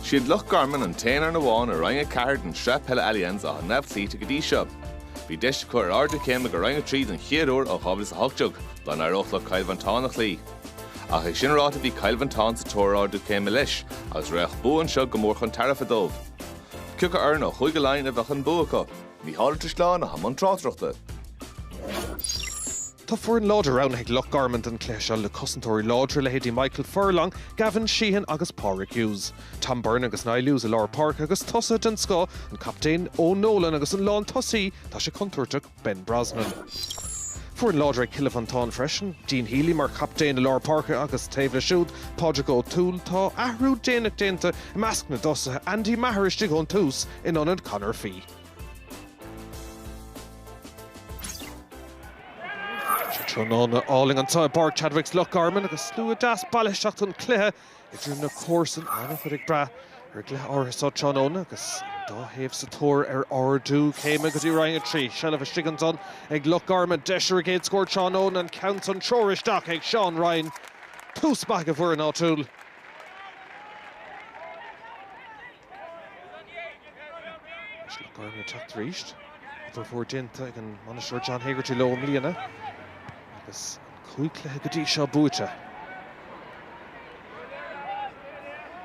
Siad Loch Garman an t-aon fhoireann amháin i Roinn 4 den tSraith Peile Allianz atá neamhchloíte go dtí seo. Bhí deis acu ar ardú céime go Roinn 3 don chéad uair ó 2018, dá n-éireodh leo Cill Mhantáin a chloí. Ach é sin ráite bhí Cill Mhantáin sa tóir ar ardú céime leis agus bheadh bua anseo go mór chun tairbhe dóibh. Cioca foireann ó Chúige Laighean a mbeidh an bua acu? Micheál Drisleáin i mbun tráchtaireachta. Tá foireann láidir roghnaithe ag Loch Garman don chluiche seo le cosantóirí láidre, leithéidí Michael Furlong, Gavin Sheehan agus Pádraic Hughes. Tom Byrne agus Niall Hughes i lár páirce agus tosaithe den scoth, an captaen Eoin Nolan agus an lántosaí, tá sé contúirteach, Ben Brosnan. Foireann láidir ag Cill Mhantáin freisin, Dean Healy mar chaptaen i lár páirce agus taobh leis siúd, Pádraig Ó Toole. Tá athrú déanach déanta i measc na dtosaithe, Andy Maher istigh ón tús in ionad Conor Fee. Tráthnóna álainn anseo i bPáirc Chadwicks Loch Garman agus slua deas bailithe isteach don chluiche idir na comharsain, an-chuid ag brath ar an gcluiche áirithe seo tráthnóna agus an dá thaobh sa tóir ar ardú céime go dtí Roinn 3. Seilbh istigh ansan ag Loch Garman, deis ar a gcéad scór tráthnóna, an ceann san treoir isteach ag Sean Ryan. Tús maith ag an bhfoireann áitiúil. Anois Loch Garman ag teacht arís. Obair mhór déanta ag an mbainisteoir John Hegarty leo i mbliana agus an cúig chluiche go dtí seo buaite.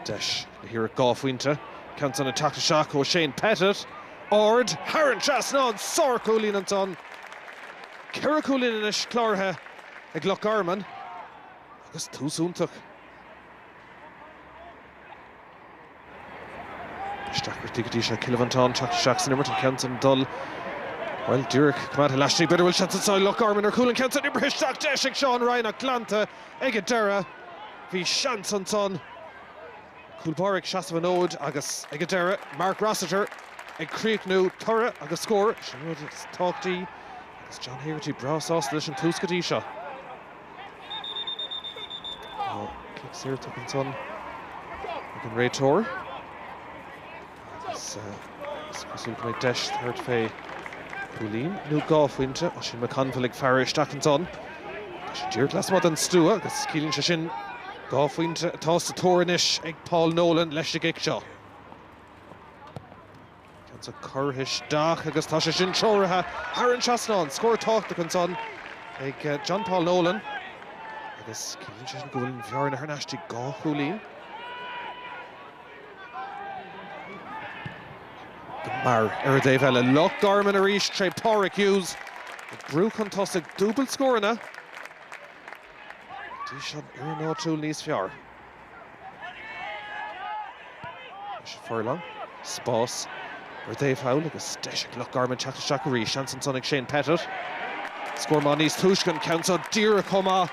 Deis le hiarracht dhá phointe, ceann san ag teacht isteach ó Shane Pettit. Ard, thar an trasnán, sárchúilín ansan. Ceithre chúilín anois cláraithe ag Loch Garman agus tús iontach. Isteach go dtí seo Cill Mhantáin teacht isteach san imirt an ceann san dul bhuel díreach coimeádtha laistigh b'fhéidir go bhfuil seans ansan ag Loch Garman ar chúl an ceann san oibrithe isteach deis ag Sean Ryan ach glanta ag an deireadh bhí seans ansan cúl báire ag seasamh an fhóid agus ag an deireadh Mark Rossiter ag críochnú toradh agus scór an rud is tábhachtaí agus John Hegarty breá sásta leis an tús go dtí seo. Cic saor tugtha ansan ag an réiteoir. Agus is cosúil go mbeidh deis tabhairt fé cúilín nó dhá phointe. Oisín McConville ag faire isteach ansan. Tá sé díreach lasmuigh den stua agus ciallaíonn sé sin dhá phointe atá sa tóir anois ag John Paul Nolan leis an gcic seo. Cinnte curtha isteach agus tá sé sin treoraithe thar an trasnán. Scór tábhachtach ansan ag John Paul Nolan agus ciallaíonn sé sin go bhfuil an bhearna thar n-ais go dtí dhá chúilín. Mar ar an dtaobh eile, Loch Garman arís tré Pádraig Hughes. Ag brú chun tosaigh, dúbailt scóranna. Go dtí seo an fhoireann áitiúil níos fearr. Furlong. Spás ar an dtaobh thall agus deis ag Loch Garman teacht isteach arís. Seans ansan ag Shane Pettitt. Scór maith níos túisce an ceann seo díreach chomh maith.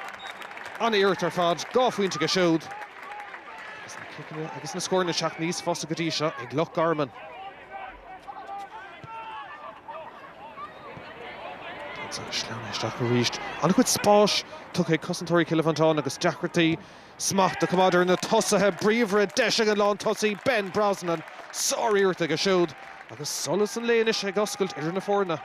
An-iarracht ar fad. Dhá phointe aige siúd. Agus na ciceanna agus na scóranna ag teacht níos fusa go dtí seo ag Loch Garman. Ansan sleamhnaithe isteach arís. An-chuid spáis tugtha ag cosantóirí Chill Mhantáin agus deacrachtaí smacht a choimeád ar na tosaithe bríomhara, deis ag an lántosaí Ben Brosnan sáriarracht aige siúd agus solas an lae anois ag oscailt idir na foirne.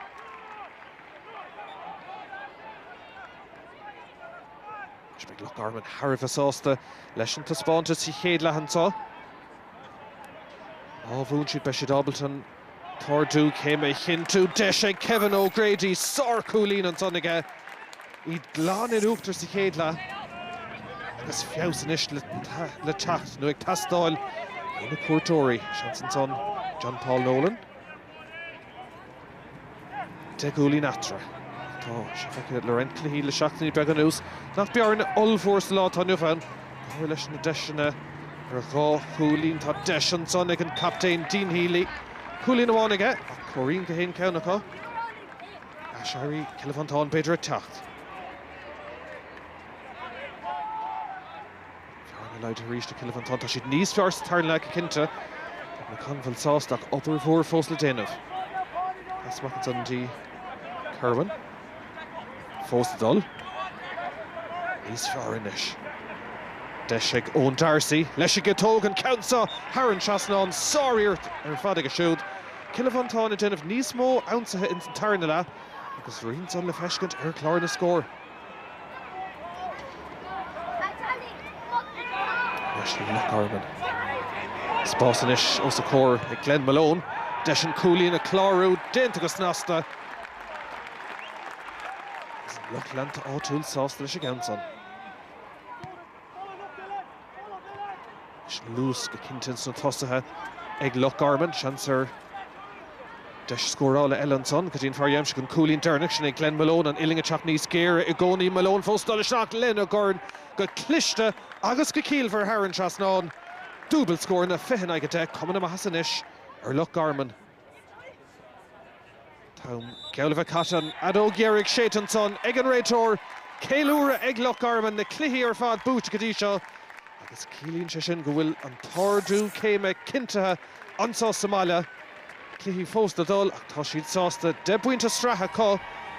Anois beidh Loch Garman thar a bheith sásta leis an taispeántas sa chéad leath anseo. Má bhuann siad beidh siad ábalta an. t-ardú céime a chinntiú. Deis ag Kevin O'Grady, sárchúilín ansan aige, iad glan in uachtar sa chéad leath agus feabhas anois le teacht, nó ag teastáil, ó na cuairteoirí. Seans ansan, John Paul Nolan. 10 gcúilín eatarthu. Tá sé feicthe le roinnt cluichí le seachtainí beaga anuas nach bearna ollmhór sa lá atá inniu ann. Go háirithe leis na deiseanna ar dhá chúilín. Tá deis ansan ag an captaen Dean Healy. Cúilín amháin aige ach comhairíonn gach aon cheann acu. Aiséirí Chill Mhantáin b'fhéidir ag teacht. Bearna laghdaithe arís ag Cill Mhantáin. Tá siad níos fearr sa tarna leath go cinnte agus an ceann amháin sásta ach obair mhór fós le déanamh. Pas amach ansan dtí Kirwan. Fós ag dul. Níos fearr anois. Deis ag Eoin Darcy. Deis aige. Tóg an ceann seo thar an trasnán. Sáriarracht ar fad aige siúd. Cill Mhantáin ag déanamh níos mó ionsaithe ins an tarna leath agus rian san le feiscint ar chlár na scór. Loch Garman. Spás anois os a chomhair ag Glen Malone. Deis an cúilín a chlárú déanta go snasta. Agus an lucht leanta áitiúil sásta leis an gceann san. Is luas go cinnte sna tosaithe ag Loch Garman. Seans ar dheis scórála eile ansan go dtí an fear a dh'aimsigh, an cúilín deireanach. Sin é Glenn Malone, an uillinn ag teacht níos géire i gcónaí. Malone fós dul isteach lena dhorn go cliste agus go ciallmhar thar an trasnán. Dúbailt scór na fiche in aghaidh a deich, cuma na maitheasa anois ar Loch Garman. An t-am geall le bheith caite, an fheadóg dheiridh séidte ansan ag an réiteoir. Ceiliúradh ag Loch Garman, na cluichí ar fad buaite go dtí seo agus ciallaíonn sé sin go bhfuil an t-ardú céime cinntithe anseo sa mbaile. Cluichí fós le dul ach tá siad sásta deich bpointe sraithe acu.